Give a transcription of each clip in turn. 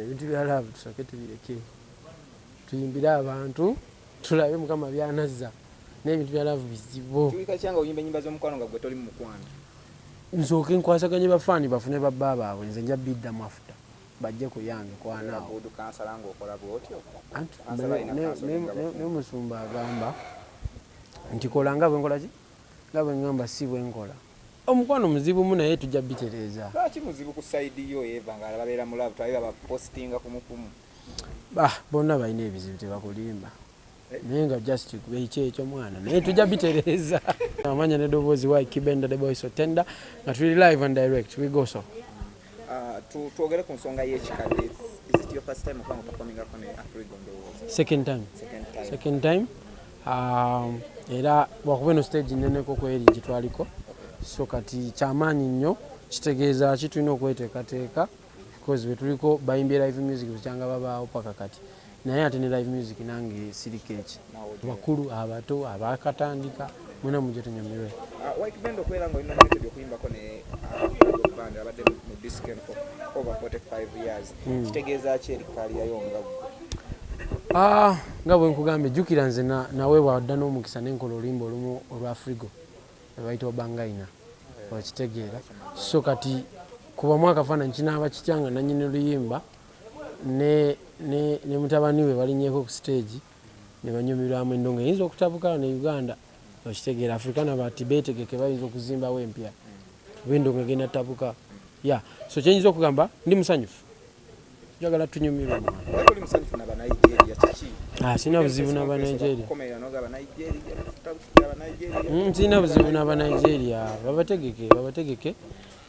ebintu bya laavu tusooke tubireke tuyimbire abantu tulabe mukama byanazza naye ebintu bya laavu bizibu nsooke nkwasaganye bafaani bafune babba baabwe nze nja biddamu afuta bajje kuyange kwanaawomusumba agamba nti kolanga bwenkolaki Nga bwengamba si bwenkola. Omukwano muzibu mu naye tujja bitereeza. Lwaki muzibu ku side yo Eva nga alaba bera mu love twaye baba postinga kumu kumu. Bah bonna balina ebizibu tebakulimba naye nga just ekyekyo mwana naye tujja bitereeza. Amanya ne doboozi why kibenda the boy so tender nga tuli live and direct we go so. Ah, twogere ku nsonga y'ekikadde second time second time ah, era lwakuba eno stage neneko kweri gitwaliko so kati kyamaanyi nnyo kitegeeza ki tulina okweteekateeka because wetuliko bayimbi live music bukyanga babaawo paka kati naye ate ne live music nange siri keeki bakulu abato abakatandika mwena mujja tunyumirwe nga bwe nkugambye jjukira nze nawe bwadda n'omukisa nenkola olimba olumu olwa frigo ebaita obangaina okitegeera so kati kubamu akafaananyi kinaaba kitya nga nanyini luyimba ne ne ne mutabani we balinyeko ku stage ne banyumirwamu endongo eyinza okutabuka wano e Uganda okitegeera Africana bati betegeke bayinza okuzimbawo empya kuba endongo egenda tabuka ya so kyenyinza okugamba ndi musanyufu njagala tunyumirwe ah, sirina buzibu nabanigeria hmm, sirina buzibu nabanigeria babategeke babategeke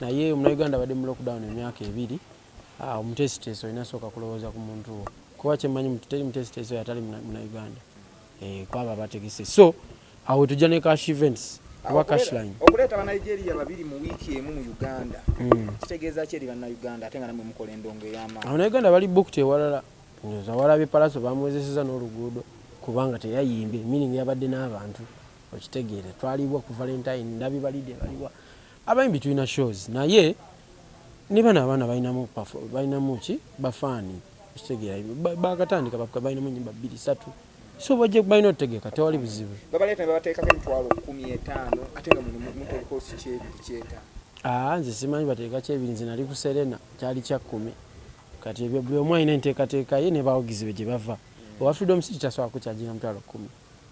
naye omunauganda abadde mu lockdown emyaka ebiri Ah, omuteesiteesi olina sooka kulowooza ku muntu wo kuba kyemmanyi mutu teri muteesiteesi oyo atali munauganda eh, kwabo abategese so awo tujja ne cash events oba cashline okuleeta banigeria babiri mu wiiki emu mu uganda hmm. kitegeeza ki eri banauganda ate nga namwe mukola endongo ey'amaanyi abanauganda bali bukti ewalala nyoza walabe palaso bamuwezeseza n'oluguudo kubanga teyayimbye meaning yabadde n'abantu okitegeere twaliwa ku valentine ndabi balide baliwa Abayimbi tulina shows naye nebano abaana balinamu balinamu ki bafaani okitegeera bakatandika bakuka balinamu enyimba bbiri satu so bajja balina otegeka tewali buzibu babaleeta nebabateekako emitwalo kumi etaano ate nga muno muteekako sikyebiri kyeta aa ah, nze simanyi bateeka kyebiri nze nali ku serena kyali kya kumi kati ebyo buli omu alina enteekateeka ye nebawagizi be gye bava owa freedom city tasobola kukyajira mutwalo kumi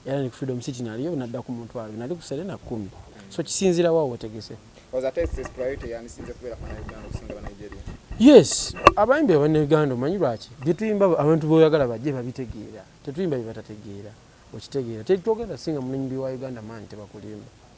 era ne ku freedom city naliyo nadda ku mutwalo ebiri nali ku serena kumi so kisinzira wa wotegese Oza ate sis priority yandisinze kubeera kwa Uganda okusinga Nigeria. Yes, abayimbi aba Uganda omanyi lwaki byetuyimba abantu boyagala bajje babitegeera tetuyimba byebatategeera okitegeera tetwogera singa munyimbi wa Uganda maanyi tebakulimba.